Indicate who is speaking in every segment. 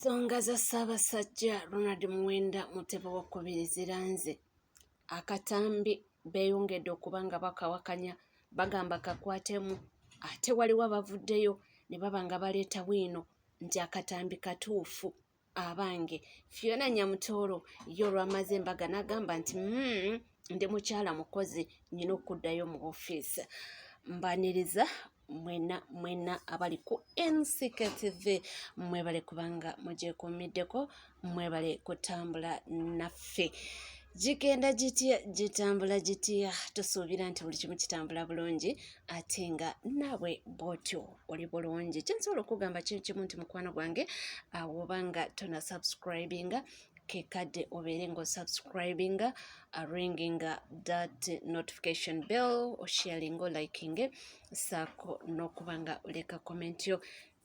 Speaker 1: ensonga za ssaabasajja ronald muwenda mutebe wakubiri ziranze akatambi beeyongedde okuba nga bakawakanya bagamba kakwatemu ate waliwo abavuddeyo ne baba nga baleeta bwino nti akatambi katuufu abange fiona nyamutooro ye olwamaze embaga n'agamba nti mm, ndi mukyala mukozi nyina okuddayo mu ofiisi mbaniriza mwena mwena abali ku NCK TV mwebale kubanga mugyekuumiddeko mwebale kutambula naffe gigenda gitya gitambula gitya tusuubira nti buli kimu kitambula bulungi ate nga naabwe bwotyo oli bulungi kyensobola okugamba kiri kimu nti mukwano gwange awoba nga tona subscribinga kekadde obeere nga osubscribinga aringinga uh, that notification bell osharinga olikinge saako n'okuba nga oleka komenti yo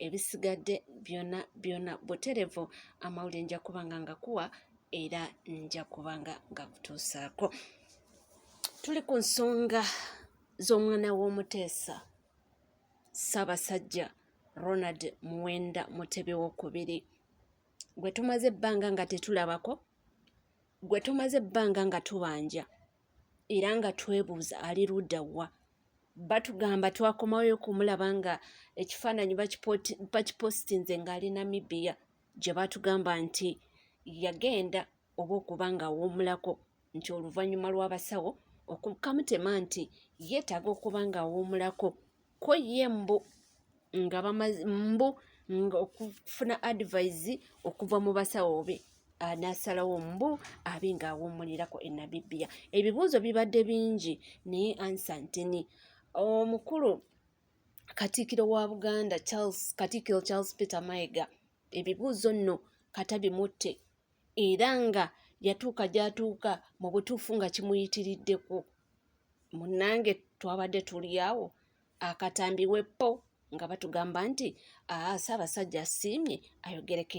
Speaker 1: ebisigadde byona byona buterevu amawulire nja kubanga nga kuwa era nja kubanga nga kutuusaako tuli ku nsonga z'omwana w'omuteesa ssaabasajja ronald muwenda mutebi wokubiri gwe tumaze ebbanga nga tetulabako gwe tumaze ebbanga nga tubanja era nga twebuuza ali ludda wa batugamba twakomawoyo okumulaba nga ekifaananyi bakipositinze ng'ali namibia gye batugamba nti yagenda oba okuba ng'awuumulako nti oluvannyuma lw'abasawo okukamutema nti yeetaaga okuba ng'awuumulako ko ye mbu nga bamazi mbu nga okufuna advise okuva mu basawo be anasalawo mbu abe nga awummulirako e nabibia ebibuuzo bibadde bingi naye ansa ntini omukulu katiikiro wa buganda charles katiikiro charles peter mayiga ebibuuzo nno katabimutte era nga yatuuka gy'atuuka mu butuufu nga kimuyitiriddeko munnange twabadde tuli awo akatambi weppo nga batugamba nti aa ssaabasajja asiimye ayogereko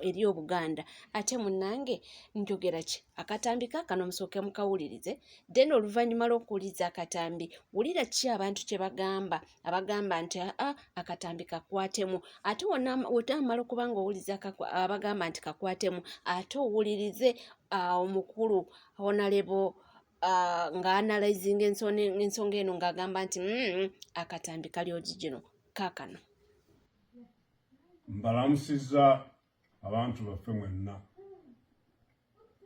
Speaker 1: eri obuganda ate munnange njogera ki akatambi kaakano musooke mukawulirize then oluvannyuma lw'okuwuliriza akatambi wulira ki abantu kye bagamba abagamba nti aa ah, akatambi kakwatemu ate wotamala okuba nga owuliza abagamba nti kakwatemu ate owulirize ah, omukulu honalebo ah, nga analizinga ensonga eno ng'agamba nti mm, akatambi kali ogigino kakano
Speaker 2: mbalamusiza abantu baffe mwenna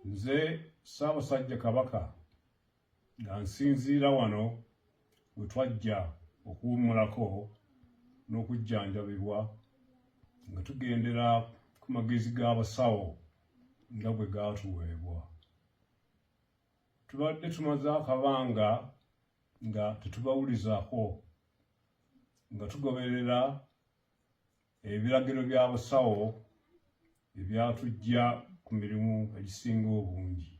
Speaker 2: nze ssaabasajja kabaka nga nsinziira wano we twajja okuwummulako n'okujjanjabibwa nga tugendera ku magezi g'abasawo nga bwe gaatuweebwa tubadde tumaze akabanga nga tetubawulizako nga tugoberera Ebiragiro bya busawo ebyatujja ku mirimu egisinga obungi.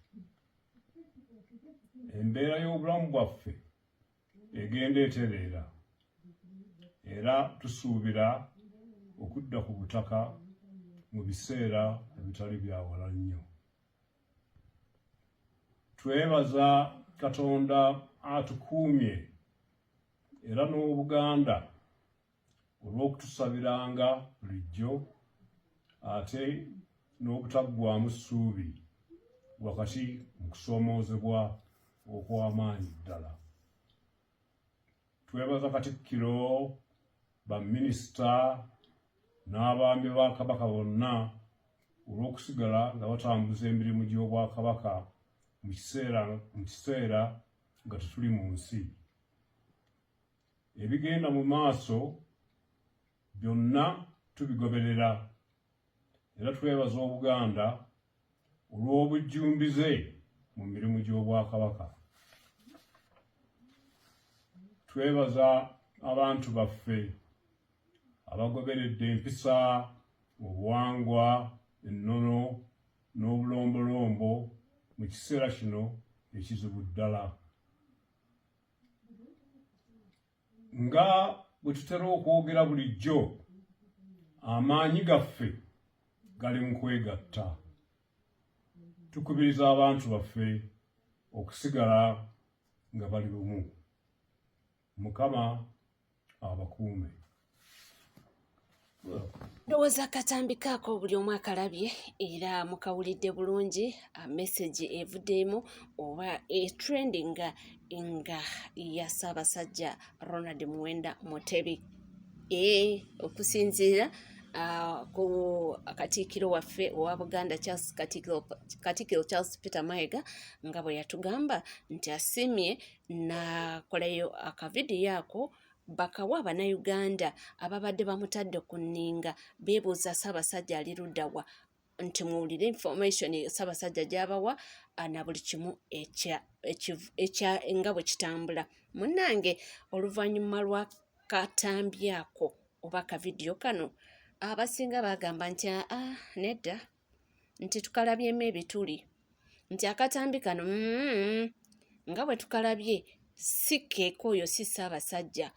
Speaker 2: Embeera y'obulamu bwaffe egenda etereera era tusuubira okudda ku butaka mu biseera ebitali byawala nnyo. Twebaza Katonda atukuumye era n'Obuganda olw'okutusabiranga bulijjo ate n'obutaggwamu ssuubi wakati mu kusoomoozebwa okw'amaanyi ddala twebaza katikkiro baminisita n'abaami ba kabaka bonna olw'okusigala nga batambuza emirimu gy'obwakabaka mu kiseera nga tetuli mu nsi ebigenda mu maaso byonna tubigoberera era twebaza obuganda olw'obujjumbize mu mirimu gy'obwakabaka twebaza abantu baffe abagoberedde empisa obuwangwa ennono n'obulombolombo mu kiseera kino ekizibu ddala nga bwe tutera okwogera bulijjo amaanyi gaffe gali mu kwegatta tukubiriza abantu baffe okusigala nga bali bumu mukama abakuume
Speaker 1: ndowooza akatambi kaako buli omu akalabye era mukawulidde bulungi message evuddemu oba etrending nga ya ssaabasajja ronald muwenda mutebi e okusinziira ku katiikiro waffe owa buganda charles katiikiro charles peter maega nga bwe yatugamba nti asiimye nakolayo akavidiyo ako bakawa abanauganda ababadde bamutadde ku nninga beebuuza ssaabasajja ali luddawa nti muwulire information ssaabasajja gyabawa ah, na buli kimu ekya nga bwe kitambula munnange oluvannyuma lwa katambi ako oba akavidiyo kano abasinga bagamba nti aa ah, ah, nedda nti tukalabyemu ebituli nti akatambi kano mm, nga bwe tukalabye si keeka oyo si ssaabasajja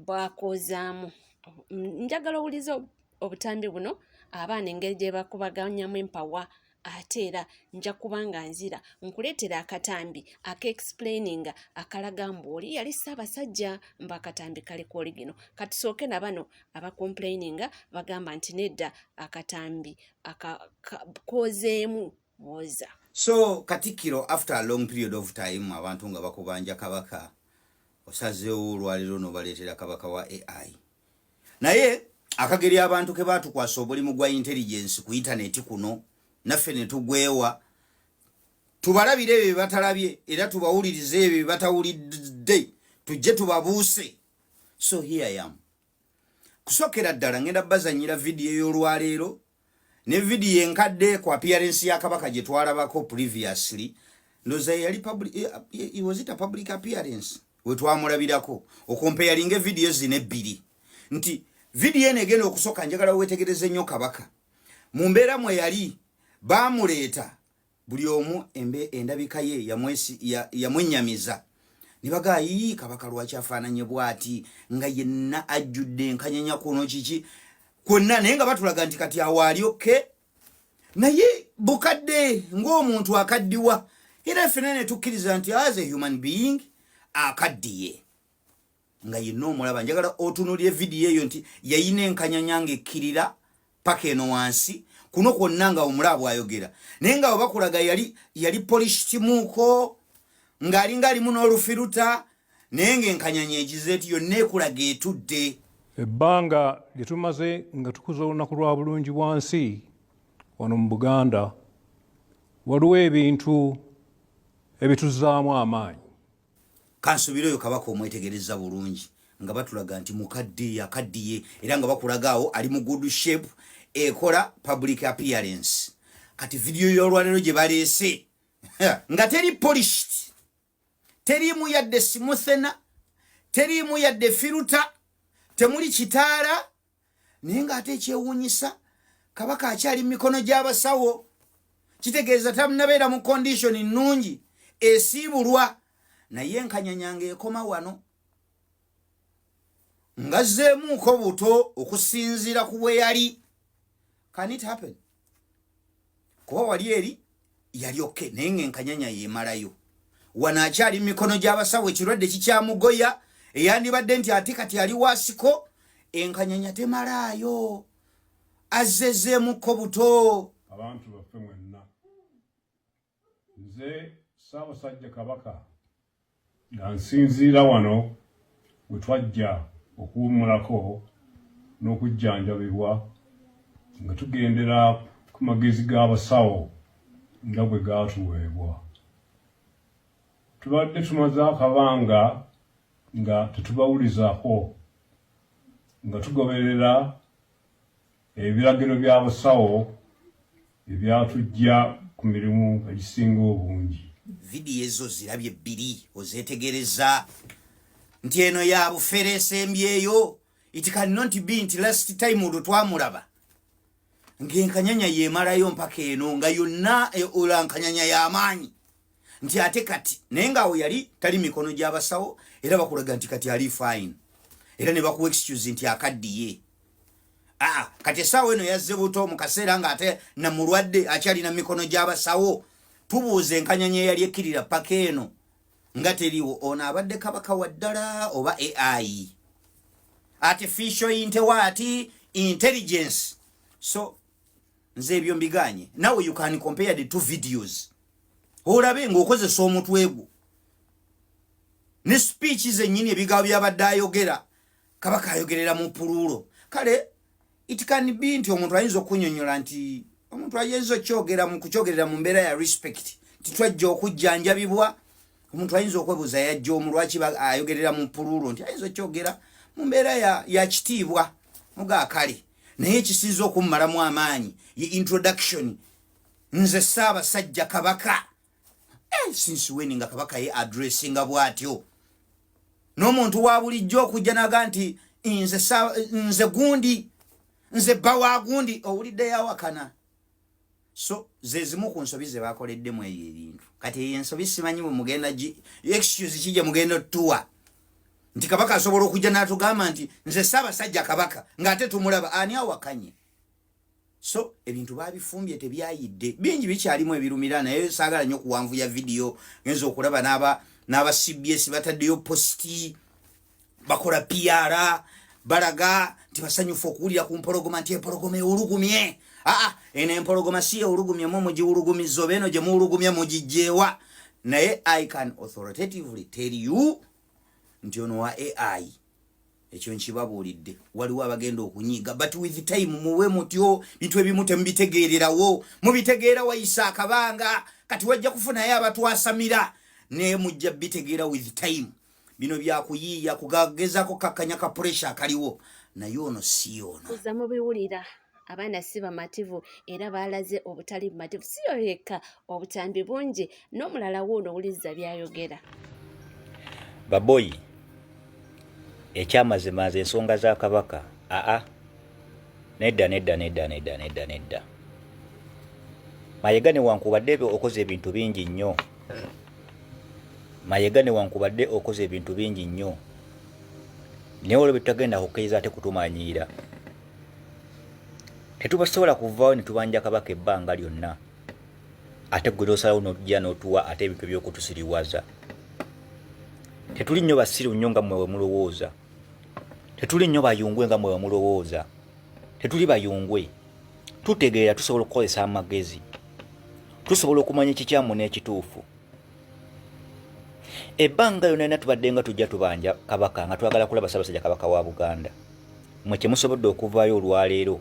Speaker 1: bwakoozaamu njagala owuliza obutambi buno abaana engeri gye bakubaganyamu empawa ate era nja kuba nga nzira nkuleetera akatambi akaexplaininga akalaga mbu oli yali ssaabasajja mbu akatambi kali ku oligino katusooke na bano abakomplaininga bagamba nti nedda akatambi kozeemu mwoza so
Speaker 3: katikkiro after a long period of time abantu nga bakubanja kabaka osazeewo olwaliro nobaleetera kabaka wa ai naye akageri abantu ke batukwasa obulimu gwa intelligence ku intaneti kuno naffe netugwewa tubalabire ebyo byebatalabye era tubawulirize ebyo byebatawulidde tujje tubabuuse so here yam kusokera ddala ngenda bazanyira vidiyo y'olwaleero ne vidiyo enkadde ku appearance ya kabaka gye twalabako previously ndoza yali public eh, eh, was it a public appearance we twamulabirako okompeyalinga evidiyo zino ebbiri nti vidiyo eno egenda okusooka njagala wetegereze nnyo kabaka mu mbeera mwe yali baamuleeta buli omu embe endabika ye yamwesi ya, yamwenyamiza nibaga yii kabaka lwaki afaananye bwati nga yenna ajjudde enkanyanya kuno kiki kwonna naye nga batulaga nti kati awaali okke okay? naye bukadde ng'omuntu akaddiwa era fena netukkiriza nti as a human being akaddiye nga yenna omulaba njagala otunulire vidiyo eyo nti yayina enkanyanya nga ekkirira paka eno wansi kuno kwonna nga omulaba bwayogera naye nga webakulaga yali yali polisikimuuko ng'alinga alimu n'olufiruta naye ng'enkanyanya egize ti yonna ekulaga etudde ebbanga
Speaker 2: lye tumaze nga tukuza olunaku lwa bulungi bwa nsi wano mu buganda waliwo ebintu ebituzaamu amaanyi kansubire
Speaker 3: oyo kabaka omwetegereza bulungi nga batulaga nti mukadde yakaddiye era nga bakulaga awo ali mu good shape ekola public appearance kati vidiyo y'olwaleero gye baleese nga teri polished teriimu yadde simuthena teriimu yadde firuta temuli kitaala naye ng'ate ekyewuunyisa kabaka akyali mu mikono gy'abasawo kitegeeza tamunabeera mu kondishoni nnungi esiibulwa naye enkanyanya ng'ekoma wano ngazzeemuuko buto okusinziira ku bwe yali kanit happen kuba wali eri yali oke naye nga enkanyanya yemalayo wano akyali mumikono gy'abasawo ekirwadde kikyamugoya eyandibadde nti ate kati ali wasiko enkanyanya temalaayo azzezeemukko buto abantu baffe
Speaker 2: mwenna Nze Ssaabasajja Kabaka nga nsinziira wano we twajja okuwummulako n'okujjanjabibwa nga tugendera ku magezi g'abasawo nga bwe gaatuweebwa. Tubadde tumaze akabanga nga tetubawulizaako nga tugoberera Ebiragiro bya busawo ebyatujja ku mirimu egisinga obungi. Vidiyo ezo
Speaker 3: zirabye bbiri ozetegereza nti eno ya bufere esembyeyo it can not be nti last time olwo twamulaba ng'enkanyanya yemalayo mpaka eno nga yonna e, olankanyanya y'amaanyi nti ate kati naye ngaawo yali tali mikono gyabasawo era bakulaga nti kati ali fine era ne bakuwa excuse nti akaddiye aa ah, kati esaawa eno yazze buto mu kaseera ng'ate na mulwadde akyalina mikono gyabasawo tubuuza enkanyanya eyali ekkirira paka eno nga teriwo ono abadde kabaka wa ddala oba ai artificial intewaati intelligence so nze ebyo mbiganye nawe you can compare the two videos olabe ng'okozesa omutwe gwo ne speech zennyini ebigawo byabadde ayogera kaba kayogerera mu puluulo kale it can be nti omuntu ayinza okunyonyola nti omuntu ayinza okyogera mu kukyogerera mu mbeera ya respect titwajja okujjanjabibwa omuntu ayinza okwebuuza yajja omu lwaki ayogerera mu puluulo nti ayinza okyogera mu mbeera ya kitiibwa mugaakale naye ekisinza okummalamu amaanyi ye introduction nze ssaabasajja kabaka eh, since wen nga kabaka ye adressinga bw'atyo n'omuntu wa bulijjo okujja naga nti nze gundi nze bba wa gundi owulidde yawakana so zezimu ku nsobi ze bakoleddemu ebyo ebintu kati eyo ensobi simanyi bwe mugenda gi excuse ki gye mugenda otuwa nti kabaka asobola okujja n'atugamba nti nze ssaabasajja kabaka ng'ate tumulaba ani awakanye so ebintu babifumbye tebyayidde bingi bikyalimu ebirumira naye saagala nnyo okuwanvuya vidiyo genza okulaba n'aba cbs bataddeyo positi bakola piara balaga nti basanyufu okuwulira ku mpologoma nti empologoma ewulugumye aa eno empologoma si ewulugumye mu mugiwulugumiza oba eno gye muwulugumye mugijjeewa naye i can authoritatively tell you nti ono wa ai ekyo nkibabuulidde waliwo abagenda okunyiiga but with time muwe mutyo bintu ebimu temubitegeererawo mubitegeera wayisa akabanga kati wajja kufunayo abatwasamira naye mujja bitegeera with time bino byakuyiiya kugagezako kakkanya ka puresha akaliwo naye ono si ono uza mubiwulira
Speaker 1: abaana si bamativu era baalaze obutali bumativu si yo yekka obutambi bungi n'omulala wuuno owuliriza byayogera
Speaker 4: baboyi ekyamazima nze ensonga za kabaka aa Nedda, nedda, nedda, nedda, nedda, nedda. Mayega newankubadde okoze ebintu bingi nnyo. Mayega newankubadde okoze ebintu bingi nnyo. Naye olwo byetutagenda kukkiriza ate kutumanyiira. Tetubasobola kuvaawo ne tubanja kabaka ebbanga lyonna. Ate gwe n'osalawo n'ojja n'otuwa ate ebintu eby'okutusiriwaza. Tetuli nnyo basiru nnyo nga mmwe bwe mulowooza. Tetuli nnyo bayungwe nga mwe bamulowooza. Tetuli bayungwe. Tutegeera tusobola okukozesa amagezi. Tusobola okumanya ekikyamu n'ekituufu. Ebbanga yona yona tubadde nga tujja tubanja kabaka nga twagala kulaba Ssaabasajja Kabaka wa Buganda. Mwe kye musobodde okuvaayo olwaleero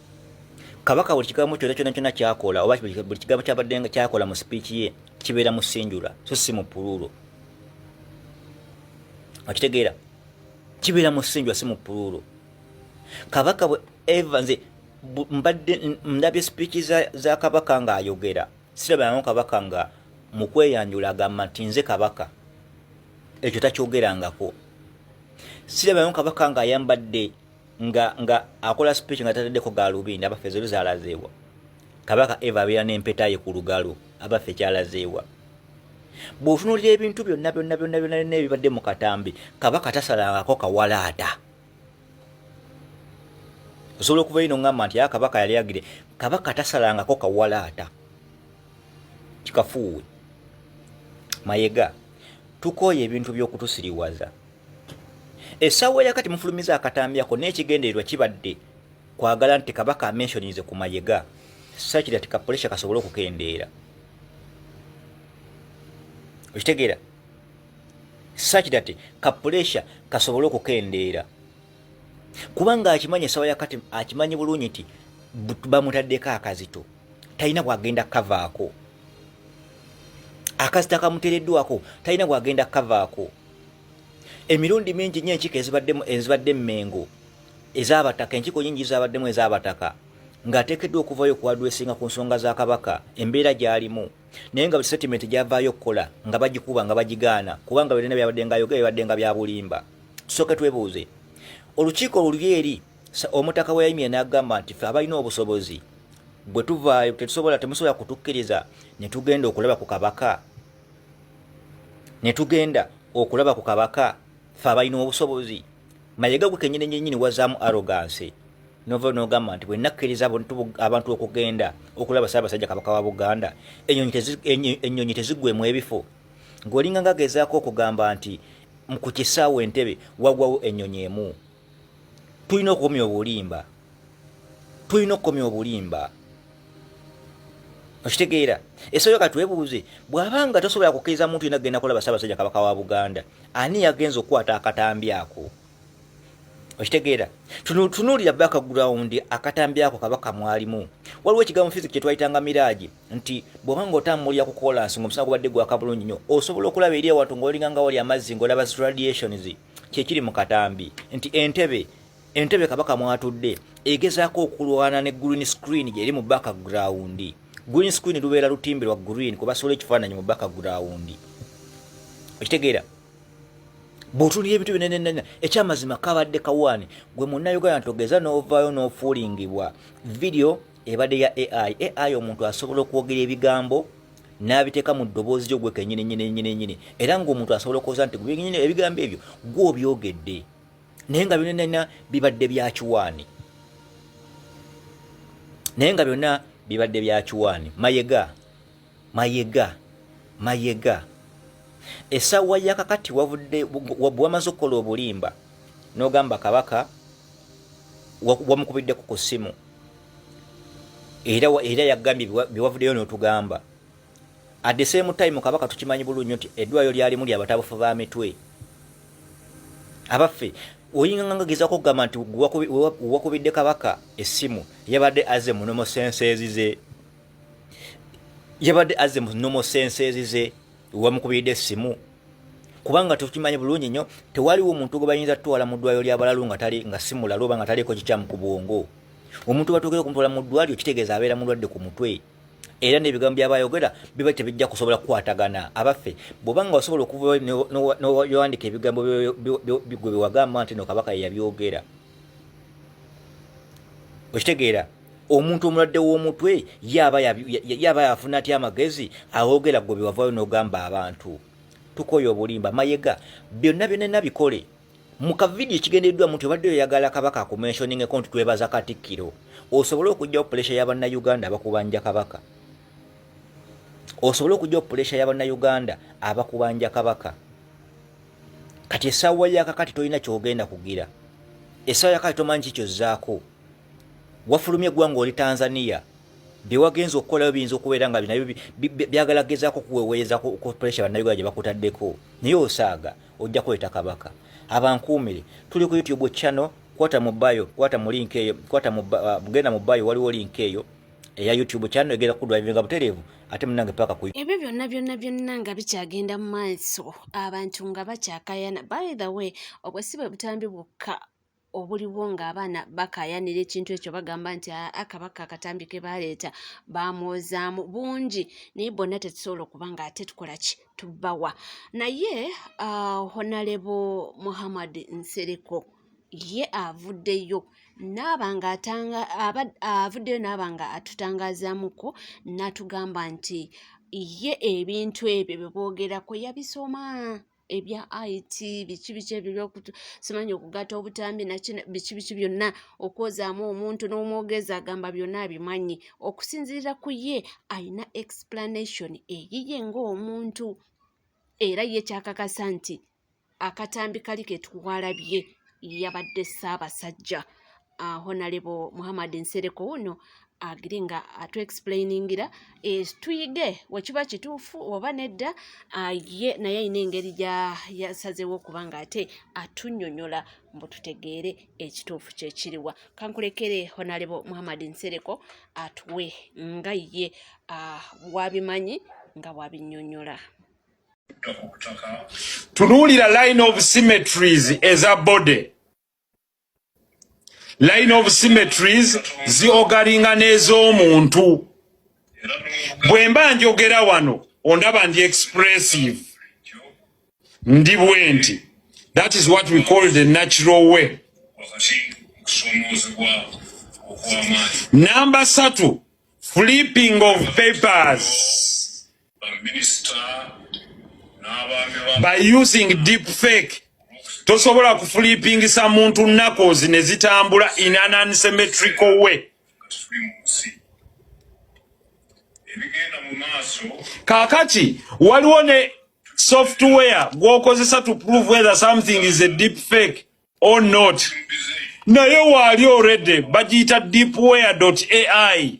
Speaker 4: kabaka buli kigambo kyona kyona kyona kyakola oba buli kigambo kyabadde nga kyakola mu sipiiki ye kibeera mu sinjula so si mu puluulo okitegeera kibeera mu sinjula si mu puluulo kabaka bwe eva nze mbadde ndabye sipiiki za, za kabaka ng'ayogera sirabangamu kabaka nga mu kweyanjula agamba nti nze kabaka ekyo takyogerangako sirabangamu kabaka ng'ayambadde nga nga akola speech nga tatadeko galubindi abaffe zero zalazeewa kabaka eva abeera n'empeta ye ku lugalo abaffe kyalazeewa bw'otunuulira ebintu byonna byonna byonna byonna byonna ebibadde mu katambi kabaka tasalangako kawalaata osobola okuva ino ngamba nti aa kabaka yali agire kabaka tasalangako kawalaata kikafuuwe mayega tukooye ebintu by'okutusiriwaza Essaawa ya kati mufulumiza akatambi ako n'ekigendererwa kibadde kwagala nti Kabaka amenshonize ku mayega sakiri ati kapulesha kasobole okukendeera okitegeera sakiri ati kapulesha kasobole okukendeera kubanga akimanyi essaawa ya kati akimanyi bulungi nti bamutaddeko akazito talina bwagenda kukavaako akazito akamutereddwako talina bwagenda kukavaako emirundi mingi nnyo enkiko ezibaddemu ezibadde mmengo ez'abataka enkiko nyingi zabaddemu ez'abataka ng'ateekeddwa okuvaayo okuwadwesinga ku nsonga za kabaka embeera gy'alimu naye nga setatimenti gyavaayo okukola nga bagikuba nga bagigaana kubanga byonna byabadde nga yogera bibadde nga bya bulimba tusooke twebuuze olukiiko oluli eri omutaka we yayimire n'agamba nti fe abalina obusobozi bwe tuvaayo tetusobola temusobola kutukkiriza ne tugenda okulaba ku kabaka ne tugenda okulaba ku kabaka fe abalina obusobozi mayega gwe kenyini nyenyini wazaamu aroganse nova nogamba nti bwe nakkiriza abantu okugenda okulaba saabasajja kabaka wa buganda ennyonyi tezigwemu ebifo ng'olinga ngagezaako okugamba nti ku kisaawo entebe wagwawo ennyonyi emu tulina okukomya obulimba tulina okukomya obulimba okitegeera esoyo katwebuuze bw'aba nga tosobola kukkiriza muntu yena kugenda kulaba ssaabasajja kabaka wa buganda ani yagenza okukwata akatambi ako okitegeera tunuulira background akatambi ako kabaka mwalimu waliwo ekigambo physic kyetwayitanga miraaji nti bw'oba nga otambulira ku kolansi ngaomusana gubadde gwaka bulungi nnyo osobola okulaba eri awantu ngaolinga nga wali amazzi ngaolaba radiations kyekiri mu katambi nti entebe entebe kabaka mwatudde egezaako okulwana ne green screen gyeri mu background green screen lubeera lutimbirwa green kubasobola ekifaananyi mu background okitegeera bwotunira ebintu binenenene ekyamazima kabadde kawaani gwe munnauganda togeza n'ovaayo n'ofuulingibwa vidiyo ebadde ya ai ai omuntu asobola okwogera ebigambo n'abiteeka mu ddoboozi lyo gwe kenyini nyini nyini nyini era ng'omuntu asobola okwoza nti gwenyini ebigambo ebyo gwe obyogedde naye nga byonanena bibadde bya kiwaani naye nga byonna bibadde bya kiwaani mayega mayega mayega esawa yakakati wavudde wamaze okukola obulimba nogamba kabaka wamukubiddeku ku ssimu era era yagambye byewavuddeyo notugamba at the same time kabaka tukimanyi bulunyo nti edwayo lyalimu lyabatabufu ba mitwe abaffe oyinga nga ngagezako okugamba nti wakubidde kabaka essimu yabadde aze munomo sense ezize yabadde azze mu nomo senseezi ze wamukubiridde essimu kubanga tukimanyi bulungi nnyo tewaliwo omuntu gwe bayinza tutwala mu ddwaliro ly'abalalu nga tali nga si mulalu oba nga taliiko kikyamu ku bwongo omuntu batuukira okumutwala mu ddwaliro kitegeeza abeera mulwadde ku mutwe era n'ebigambo byaba ayogera biba tebijja kusobola kukwatagana abaffe bwobanga wasobola okuva nowandika ebigambo gwe bewagamba nti no kabaka yeyabyogera okitegeera omuntu omulwadde w'omutwe yaba yaba yafuna atya amagezi awogera gwe bewavayo n'ogamba abantu tukoye obulimba mayega byonna byonena bikole mu kavidiyo ekigendereddwa muntu obadde oyagala kabaka akumenshoningeko nti twebaza katikkiro osobole okugyawo pulesha ya bannayuganda abakubanja kabaka osobole okugyawo pulesha ya bannayuganda abakubanja kabaka kati esaawa yakakati tolina kyogenda kugira esaawa yakakati tomanyi kikyozzaako wafulumye eggwanga oli tanzania byewagenza okukolayo biyinza okubeera nga binayo byagala gezaako okuweweeza ku pressure bannayuganda gye bakutaddeko naye osaaga ojja kuleeta kabaka abankuumire tuli ku youtube channel kwata mu bayo kwata mu link eyo kwata mu uh, genda mu bayo waliwo link eyo eya youtube channel egenda kudrivinga butereevu ate munange paka ku ebyo byonna byonna byonna
Speaker 1: nga bikyagenda mu maaso abantu nga bakyakayana by the way obwesibe butambi bwokka obuliwo ng'abaana bakaayanira ekintu ekyo bagamba nti akabaka akatambi ke baaleeta baamwozaamu bungi naye bonna tetusobola okuba nga ate tukola ki tubawa naye uh, honalebo muhammad nsereko ye avuddeyo naaba nga atanga avuddeyo naaba nga atutangazaamuko natugamba nti ye ebintu ebyo bye boogerako yabisoma ebya it biki biki ebyo byokusimanyi okugatta obutambi naki biki biki byonna okwozaamu omuntu n'omwogezi agamba byonna abimanyi okusinziira ku ye alina explanation eyiye ng'omuntu era ye kyakakasa nti akatambi kali ketuwalabye yabadde ssaabasajja uh, honalebo muhammad nsereko wuno agire nga atu explainingira eh, tuyige wekiba kituufu oba nedda ah, ye naye alina engeri gyasazewo okuba nga ate atunyonyola mbu tutegeere ekituufu kyekiriwa kankulekere honalebo muhammad nsereko atuwe nga ye ah, wabimanyi nga wabinyonyola
Speaker 5: tunuulira line of symmetries eza body line of symmetries ziogalinga n'ez'omuntu bwe mba njogera wano ondaba ndi expressive ndi bwenti that is what we call the natural way namba satu flipping of papers by using deep fake tosobola kufulipingisa muntu nakozi ne zitambula in an unsymmetrical way kakati waliwo ne software gwokozesa to prove whether something is a deep fake or not naye waali already bagiyita deepware ai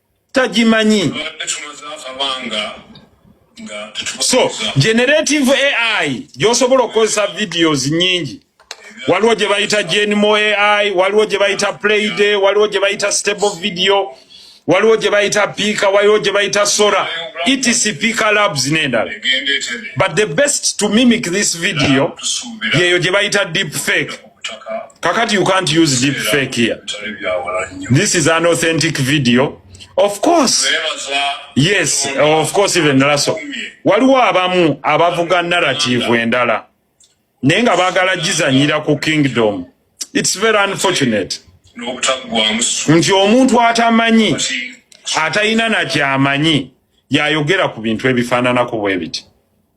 Speaker 5: tagimanyi so generative ai gyosobola okukozesa videos nyingi waliwo gye bayita genmo ai waliwo gye bayita playday waliwo gye bayita stable video waliwo gye bayita piika waliwo gye bayita sora etc piika labs n'endala but the best to mimic this video yeeyo gye bayita deep fake kakati you can't use deep fake here this is an authentic video of course yes of course even laso waliwo abamu abavuga narrative endala naye nga bagala gizanyira ku kingdom it's very unfortunate nti omuntu atamanyi atalina nakyamanyi yayogera ku bintu ebifaananako bwebiti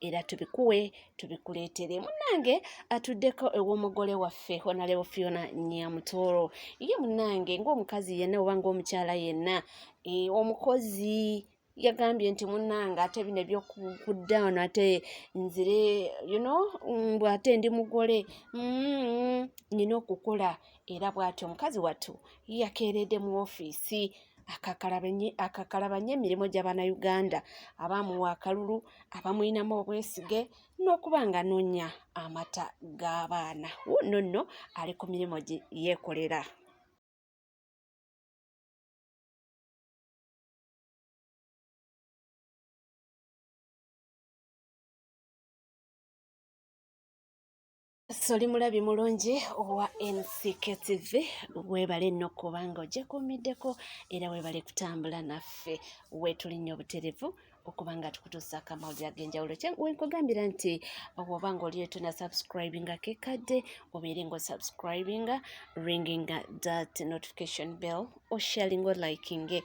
Speaker 1: era tubikuwe tubikuleetere munnange atuddeko ew'omugole waffe honalebo fiona nyamutooro ye munnange ng'omukazi yenna oba ng'omukyala yenna e, omukozi yagambye nti munnange ate bino ebyokudawno ate nzire you know mbw ate ndi mugole mm, nina okukola era bw'atyo omukazi wattu yakeeredde mu ofiisi akakalabanye emirimu gya bannayuganda abaamuwa akalulu abamulinamu obwesige n'okuba nga anoonya amata g'abaana wuuno nno ali ku mirimu gye yeekolera soli mulabi mulungi owa ncketv webale no kubanga ojekuumiddeko era webale kutambula naffe wetuli nnyo obuterevu okuba nga tukutuusa akamawulire ag'enjawulo wenkugambira nti oba nga oliyo tuna subscribinga kekadde obeere nga osubscribinga ringing that notification bell osharinga olikinge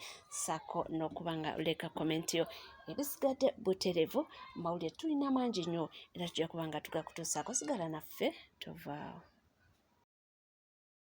Speaker 1: sako n'okuba nga oleka komenti yo ebisigadde buterevu mawulire tulina mangi nnyo era tujja kuba nga tugakutuusaako sigala naffe tovaawo